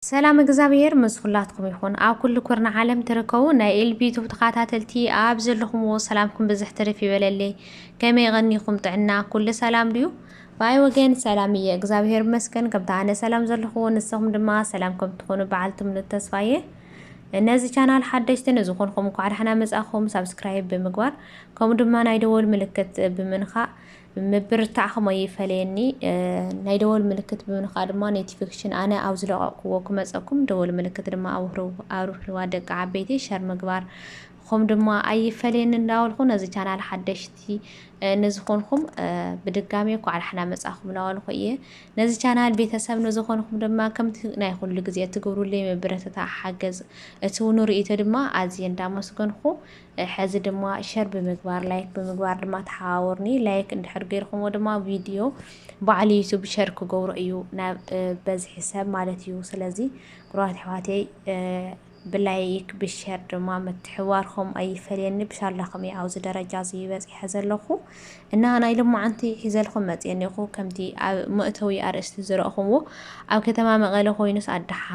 ሰላም እግዚኣብሔር ምስ ኩላትኩም ይኹን ኣብ ኩሉ ኩርና ዓለም ትርከቡ ናይ ኤልቢ ዩቱብ ተኸታተልቲ ኣብ ዘለኹምዎ ሰላምኩም ብዝሕ ትርፍ ይበለለይ ከመይ ቐኒኹም ጥዕና ኩሉ ሰላም ድዩ ባይ ወገን ሰላም እየ እግዛብሄር ይመስገን ከምቲ ኣነ ሰላም ዘለኩዎ ንስኩም ድማ ሰላም ከም ትኮኑ ባዓል ትምኑት ተስፋ እየ ነዚ ቻናል ሓደሽቲ ንዝኮንኩም እንኳዕ ዳሕና መጻእኩም ሳብስክራይብ ብምግባር ከምኡ ድማ ናይ ደወል ምልክት ብምንካእ ምብርታዕኩም ኣይፈለየኒ ናይ ደወል ምልክት ብምንካእ ድማ ኖቲፊኬሽን ኣነ ኣብ ዝለቀቅኩዎ ክመጸኩም ደወል ምልክት ድማ ኣብርህዋ ደቂ ዓበይቲ ሸር ምግባር ኹም ድማ ኣይፈለየኒ እንዳበልኹ ነዚ ቻናል ሓደሽቲ ንዝኾንኹም ብድጋሚ እኳዕ ዳሕና መጻኹም እናበልኹ እየ ነዚ ቻናል ቤተሰብ ንዝኾንኹም ድማ ከምቲ ናይ ኩሉ ግዜ እትገብሩለይ ምብረተታ ሓገዝ እቲ እውን ርእይቶ ድማ ኣዝየ እንዳመስገንኹ ሕዚ ድማ ሸር ብምግባር ላይክ ብምግባር ድማ ተሓባበሩኒ ላይክ እንድሕር ገይርኹምዎ ድማ ቪድዮ በዓል ዩቱብ ሸር ክገብሮ እዩ ናብ በዝሒ ሰብ ማለት እዩ ስለዚ ኩራት ኣሕዋተይ ብላይክ ብሸር ድማ ምትሕብባርኩም ኣይፈለየኒ ብሻላኩም እየ ኣብዚ ደረጃ እዚ በፂሐ ዘለኩ እና ናይ ልማዓንቲ ሒዘልኩም መፅየ እኒኹ ከምቲ ኣብ መእተዊ ኣርእስቲ ዝረእኹምዎ ኣብ ከተማ መቐለ ኮይኑስ ኣድሓ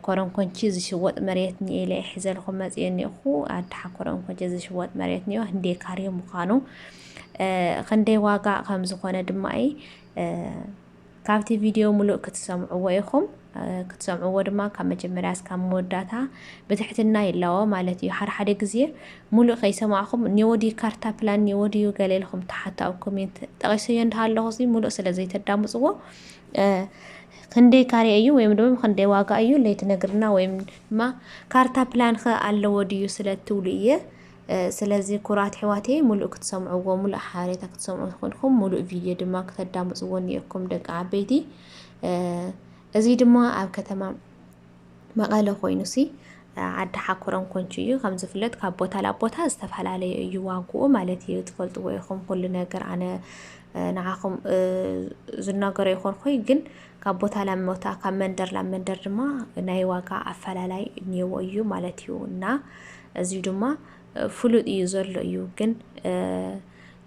ኮረንኮንቺ ዝሽወጥ መሬት ኒኤ ኢለ ሒዘልኩም መፅየ እኒኹ ኣድሓ ኮረንኮንቺ ዝሽወጥ መሬት ኒኦ ህንደይ ካሬ ምዃኑ ክንደይ ዋጋ ከም ዝኾነ ድማ እየ ካብቲ ቪድዮ ምሉእ ክትሰምዕዎ ኢኹም። ክትሰምዕዎ ድማ ካብ መጀመርያ እስካብ መወዳእታ ብትሕትና ይላዎ ማለት እዩ። ሓደሓደ ግዜ ምሉእ ከይሰማዕኹም ኔዎ ድዩ ካርታ ፕላን ኔዎ ድዩ ገለ ኢልኹም ትሓቱ ኣብ ኮሜንት ጠቒሰዮ እንዳሃለኹ እዚ ምሉእ ስለ ዘይተዳምጽዎ ክንደይ ካሬ እዩ ወይም ድማ ክንደይ ዋጋ እዩ ለይትነግርና ወይም ድማ ካርታ ፕላን ከ ኣለዎ ድዩ ስለ እትብሉ እየ ስለዚ ኩራት ኣሕዋተየ ሙሉእ ክትሰምዕዎ ሙሉእ ሓበሬታ ክትሰምዑ ኮንኩም ሙሉእ ቪድዮ ድማ ክተዳምፅዎ እኒኦኩም ደቂ ዓበይቲ እዚ ድማ ኣብ ከተማ መቐለ ኮይኑ ሲ ዓዲ ሓኩረም ኮንቹ እዩ ከም ዝፍለጥ ካብ ቦታ ናብ ቦታ ዝተፈላለየ እዩ ዋግኡ ማለት እዩ ትፈልጥዎ ኢኹም ኩሉ ነገር ኣነ ንዓኹም ዝናገሮ ይኾንኩይ ግን ካብ ቦታ ናብ ቦታ ካብ መንደር ናብ መንደር ድማ ናይ ዋጋ ኣፈላላይ እኒዎ እዩ ማለት እዩ እና እዚ ድማ ፍሉጥ እዩ ዘሎ እዩ ግን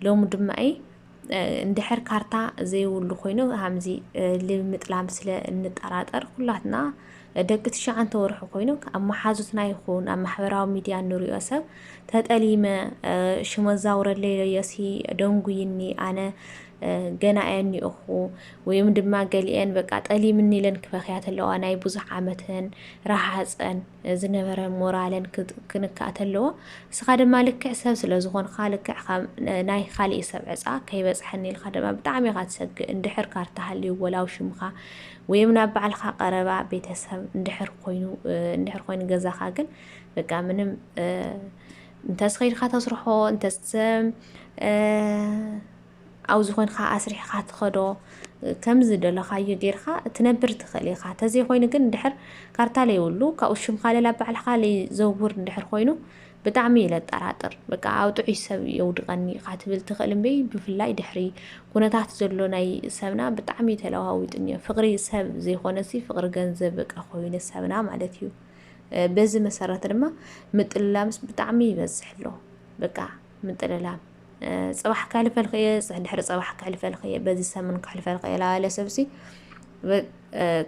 ሎሚ ድማ እይ እንድሕር ካርታ ዘይብሉ ኮይኑ ከምዚ ልምጥላም ስለ እንጠራጠር ኩላትና ደቂ ትሽዓንተ ወርሑ ኮይኑ ኣብ መሓዙትና ይኹን ኣብ ማሕበራዊ ሚድያ እንሪኦ ሰብ ተጠሊመ ሽመ ዛውረለይ ለዮሲ ደንጉይኒ ኣነ ገና እየ እኒኦኹ ወይም ድማ ገሊኤን በቃ ጠሊምኒ ኢለን ክበኽያ ተለዋ ናይ ብዙሕ ዓመተን ረሃጸን ዝነበረ ሞራለን ክንካእ ተለዎ እስኻ ድማ ልክዕ ሰብ ስለ ዝኾንካ ልክዕ ናይ ካሊእ ሰብ ዕጻ ከይበጽሐኒ ኢልካ ድማ ብጣዕሚ ኢኻ ትሰግእ እንድሕር ካርታ ሃልዩ ወላው ሽምኻ ወይም ናብ ባዕልካ ቀረባ ቤተሰብ እንድሕር ኮይኑ እንድሕር ኮይኑ ገዛኻ ግን በቃ ምንም እንተስ ከይድካ ተስርሖ እንተስ ኣብ ዝኾንካ ኣስሪሕኻ ትኸዶ ከም ዝደለኻዮ ጌርካ ትነብር ትኽእል ኢኻ ተዘይኮይኑ ግን ድሕር ካርታ ለይብሉ ካብኡ ሽምካ ለላ ባዕልካ ለይዘውር እንድሕር ኮይኑ ብጣዕሚ እዩ ለጠራጥር በቃ ኣብ ጥዑይ ሰብ የውድቐኒ ኢኻ ትብል ትኽእል እምበይ ብፍላይ ድሕሪ ኩነታት ዘሎ ናይ ሰብና ብጣዕሚ ተለዋዊጡ እኒኦ ፍቕሪ ሰብ ዘይኮነሲ ፍቕሪ ገንዘብ በቃ ኮይኑ ሰብና ማለት እዩ በዚ መሰረት ድማ ምጥልላምስ ብጣዕሚ ይበዝሕ ኣሎ በቃ ምጥልላም ጽባሕ ከሕልፈልክ እየ ድሕሪ ጽባሕ ከሕልፈልክ እየ በዚ ሰምን ከሕልፈልክ እየ ላለ ሰብሲ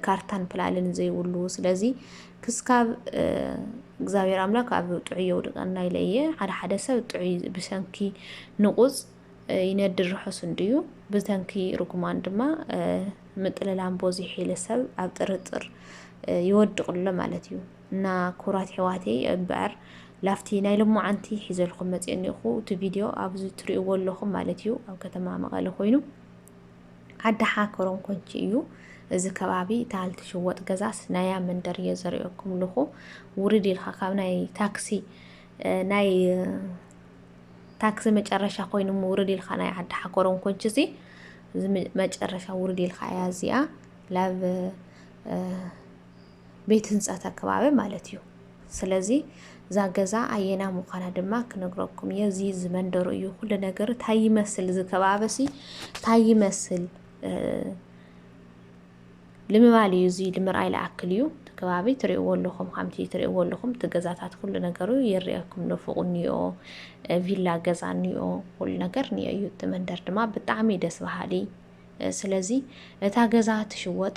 ካርታን ፕላልን ዘይብሉ ስለዚ ክስካብ እግዚኣብሔር ኣምላክ ኣብ ጥዑይ የውድቀና ኢለ እየ ሓደ ሓደ ሰብ ጥዑይ ብሰንኪ ንቁፅ ይነድር ርሑስ እንድዩ ብተንኪ ርጉማን ድማ ምጥልላም ቦዚሑ ኢለ ሰብ ኣብ ጥርጥር ይወድቕሎ ማለት እዩ እና ኩቡራት ኣሕዋተይ እምበኣር ላፍቲ ናይ ሎማዓንቲ ሒዘልኩም መፅየ እኒኦኹ እቲ ቪድዮ ኣብዚ ትሪእዎ ኣለኹም ማለት እዩ ኣብ ከተማ መቐለ ኮይኑ ዓዲ ሓከሮም ኮንቺ እዩ እዚ ከባቢ እታ ልትሽወጥ ገዛስ ናያ መንደር እየ ዘሪኦኩም ኣለኹ ውርድ ኢልካ ካብ ናይ ታክሲ ናይ ታክሲ መጨረሻ ኮይኑ ውርድ ኢልካ ናይ ዓዲ ሓኮሮም ኮንች እዚ መጨረሻ ውርድ ኢልካ እያ እዚኣ ላብ ቤት ህንፀት ኣከባቢ ማለት እዩ ስለዚ እዛ ገዛ ኣየና ምዃና ድማ ክነግረኩም እየ እዚ ዝመንደሩ እዩ ኩሉ ነገር ታይ ይመስል እዚ ከባቢሲ ታይ ይመስል ልምባል እዩ እዚ ንምርኣይ ልኣክል እዩ እቲ ከባቢ ትሪእዎ ኣለኹም ከምቲ ትሪእዎ ኣለኹም እቲ ገዛታት ኩሉ ነገሩ ይርኣየኩም ንፉቕ እኒኦ ቪላ ገዛ እኒኦ ኩሉ ነገር እኒኦ እዩ እቲ መንደር ድማ ብጣዕሚ ደስ በሃሊ ስለዚ እታ ገዛ ትሽወጥ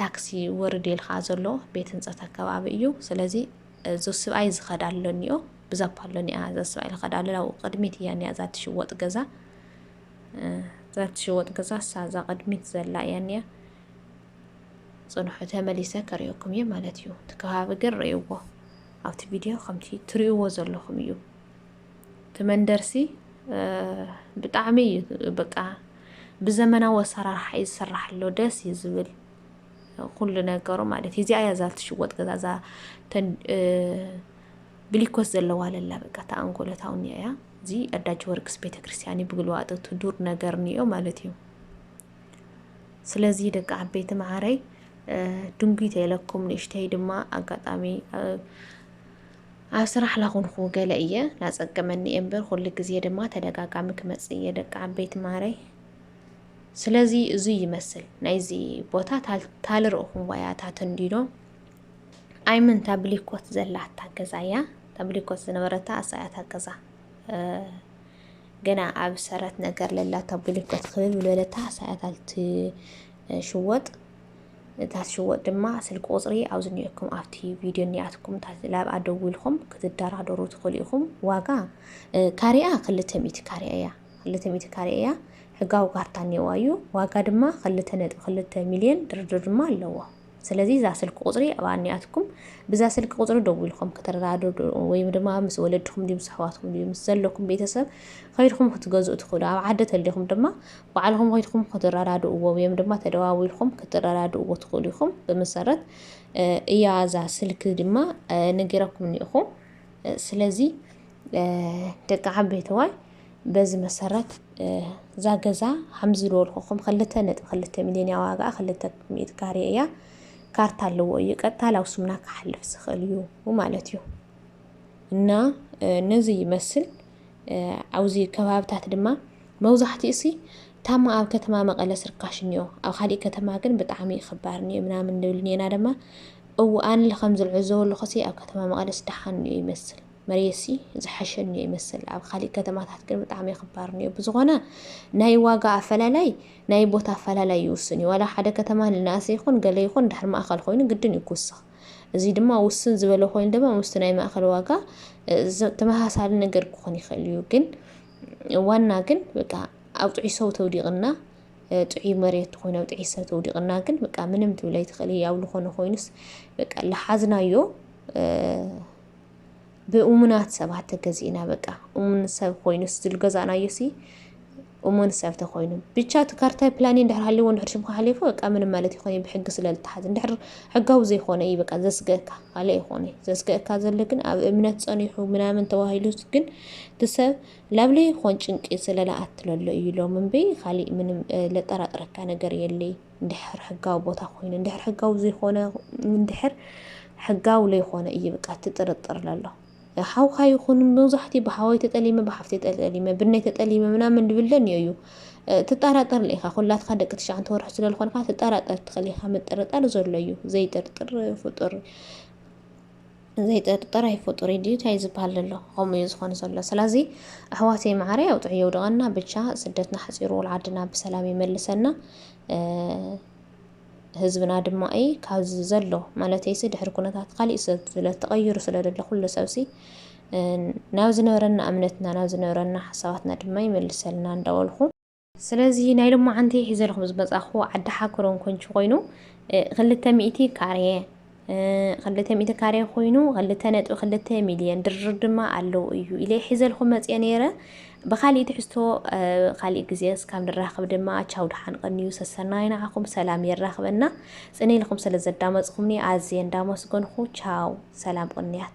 ታክሲ ወርድ ኢልካ ዘሎ ቤት ህንፀት ኣከባቢ እዩ ስለዚ ዞስብኣይ ዝኸዳ ኣሎኒኦ ብዛፓ ኣሎኒኣ ዛስብኣይ ዝኸዳ ኣሎ ኣብኡ ቅድሚት እያ ኒያ እዛ ትሽወጥ ገዛ እዛ ትሽወጥ ገዛ እሳ እዛ ቅድሚት ዘላ እያ ኒያ ፅንሑ ተመሊሰ ከሪኦኩም እየ ማለት እዩ እቲ ከባቢ ግን ርእይዎ ኣብቲ ቪድዮ ከምቲ ትርእይዎ ዘለኹም እዩ ትመንደርሲ ብጣዕሚ እዩ በቃ ብዘመናዊ ኣሰራርሓ እዩ ዝስራሕ ኣሎ ደስ እዩ ዝብል ኩሉ ነገሩ ማለት እዩ እዚኣ እያ እዛ ትሽወጥ ገዛ እዛ ብሊኮስ ዘለዋ ለላ በቃ ተኣንጎለታውን እያ እዚ ኣዳጅ ወርቅስ ቤተ ክርስቲያን እዩ ብግልዋጠቱ ዱር ነገር ንዮ ማለት እዩ ስለዚ ደቂ ዓበይቲ መዓረይ ድንጉይ ተይለኩም ንእሽተይ ድማ ኣጋጣሚ ኣብ ስራሕ ላኹንኹ ገለ እየ ላጸገመኒ እየ እምበር ኩሉ ግዜ ድማ ተደጋጋሚ ክመጽእ እየ ደቂ ዓበይቲ ማረይ ስለዚ እዙይ ይመስል ናይዚ ቦታ ታልርእኹም ዋያ እታ ተንዲኖ ኣይምን ታብሊኮት ዘላታ ገዛ እያ ታብሊኮት ዝነበረታ ኣሳያታ ገዛ ገና ኣብ ሰረት ነገር ለላ ታብሊኮት ክብል ብለታ ኣሳያታልቲ ሽወጥ እታ ትሽወጥ ድማ ስልኪ ቁፅሪ ኣብዚ ኒኦኩም ኣብቲ ቪድዮ ኒኣትኩም ላብኣ ደዊልኩም ክትደራደሩ ትኽእሉ ኢኹም ዋጋ ካሪኣ ክልተ ሚእቲ ካሪያ እያ ክልተ ሚእቲ ካሪያ እያ ሕጋዊ ካርታ እኒዋ እዩ ዋጋ ድማ ክልተ ነጥቢ ክልተ ሚልዮን ድርድር ድማ ኣለዎ ስለዚ እዛ ስልኪ ቁፅሪ ኣብ ኣኒኣትኩም ብዛ ስልኪ ቁፅሪ ደዊልኩም ክትረዳድሩ ወይ ድማ ምስ ወለድኹም ድዩ ምስ ኣሕዋትኩም ድዩ ምስ ዘለኩም ቤተሰብ ከይድኩም ክትገዝኡ ትኽእሉ ኣብ ዓዲ ተሊኹም ድማ ባዕልኹም ዄድኩም ክትረዳድእዎ ወይም ድማ ተደዋዊልኩም ክትረዳድእዎ ትኽእሉ ኢኹም። ብመሰረት እያ እዛ ስልኪ ድማ ነጊረኩም እኒእኹ። ስለዚ ደቂ ዓበይተዋይ በዚ መሰረት እዛ ገዛ ከምዚ ዝበልኩኹም ክልተ ነጥቢ ክልተ ሚልዮን እያ ዋጋኣ ክልተ ሚእቲ ካሬ እያ። ካርታ ኣለዎ እዩ ቀጥታ ላብ ስምና ክሓልፍ ዝኽእል እዩ ማለት እዩ እና ነዚ ይመስል። ኣብዚ ከባብታት ድማ መብዛሕትኡሲ ታማ ኣብ ከተማ መቐለ ስርካሽ እኒኦ ኣብ ካሊእ ከተማ ግን ብጣዕሚ ክባር እኒኦ ምናምን ንብል እኒና ደማ እው ኣንል ከም ዝልዕዘቦ ኣለኹሲ ኣብ ከተማ መቐለስ ደሓን እኒኦ ይመስል መሬሲ ዝሓሸ እኒኦ ይመስል ኣብ ካሊእ ከተማታት ግን ብጣዕሚ ክባር እኒኦ ብዝኾነ ናይ ዋጋ ኣፈላላይ ናይ ቦታ ኣፈላላይ ይውስን እዩ ዋላ ሓደ ከተማ ንናእሰ ይኹን ገለ ይኹን ድሕር ማእኸል ኮይኑ ግድን እዩ ክውስኽ እዚ ድማ ውስን ዝበለ ኮይኑ ድማ ምስቲ ናይ ማእኸል ዋጋ ተመሳሳሊ ነገር ክኾን ይኽእል እዩ። ግን ዋና ግን በቃ ኣብ ጥዑይ ሰው ተውዲቕና ጥዑይ መሬት ኮይኑ ኣብ ጥዑይ ሰብ ተውዲቕና ግን በቃ ምንም ትብል ኣይትኽእል ኣብ ዝኾነ ኮይኑስ በቃ ልሓዝናዮ ብእሙናት ሰባት ተገዚእና በቃ እሙን ሰብ ኮይኑ ዝልገዛእናዮ ሲ እሙን ሰብ ተኮይኑ ብቻ እቲ ካርታይ ፕላኒ እንድሕር ሃልዎ እንድሕር ሽምካ ሓሊፉ በቃ ምንም ማለት ይኮነ ብሕጊ ስለ ዝተሓዝ እንድሕር ሕጋዊ ዘይኮነ እዩ በቃ ዘስገእካ ካልእ ይኮነ ዘስገእካ ዘሎ ግን ኣብ እምነት ጸኒሑ ምናምን ተባሂሉ ግን ትሰብ ላብለ ይኮን ጭንቂ ስለ ለኣትለሎ እዩ ሎም እምበይ ካልእ ምንም ለጠራጥረካ ነገር የለይ እንድሕር ሕጋዊ ቦታ ኮይኑ እንድሕር ሕጋዊ ዘይኮነ እንድሕር ሕጋዊ ለይኮነ እዩ በቃ ትጥርጥር ለሎ ሓውካ ይኹን መብዛሕትኡ ብሓወይ ተጠሊመ ብሓፍተይ ተጠሊመ ብነይ ተጠሊመ ምናምን ድብል ደንዮ እዩ ትጠራጠር ኢኻ ኩላትካ ደቂ ትሽዓንተ ወርሒ ስለ ዝኾንካ ትጠራጠር ትኽእል ኢኻ ምጥርጣር ዘሎ እዩ ዘይጥርጥር ፍጡር ዘይጠርጠር ኣይፈጡር እዩ ድዩ ታይ ዝበሃል ዘሎ ከምኡ እዩ ዝኾን ዘሎ ስለዚ ኣሕዋተይ መዓረይ ኣውጥዑ የውድቐና ብቻ ስደትና ሓፂሩ ወልዓድና ብሰላም ይመልሰና ህዝብና ድማኢ ካብዚ ዘሎ ማለተይሲ ድሕሪ ኩነታት ካሊእ ሰብ ስለ ተቐይሩ ስለ ዘሎ ኩሉ ሰብሲ ናብ ዝነበረና እምነትና ናብ ዝነበረና ሓሳባትና ድማ ይመልሰልና እንዳበልኩ ስለዚ ናይ ሎማዓንቲ ሒዘልኩም ዝመጻኹ ዓዲ ሓክሮን ኮንቹ ኮይኑ ክልተ ሚእቲ ካሬ ክልተ ሚእቲ ካሬ ኮይኑ ክልተ ነጥቢ ክልተ ሚልዮን ድርድር ድማ ኣለዉ እዩ ኢለ ሒዘልኩም መፅየ ነይረ ብካሊእ ትሕዝቶ ካሊእ ግዜ እስካብ ንራኸብ ድማ ቻው ድሓን ቐንዩ ሰሰናይ ንዓኹም ሰላም የራኽበና ጽነ ኢልኩም ስለ ዘዳመጽኩምኒ ኣዝየ እንዳመስገንኹ ቻው ሰላም ቕንያት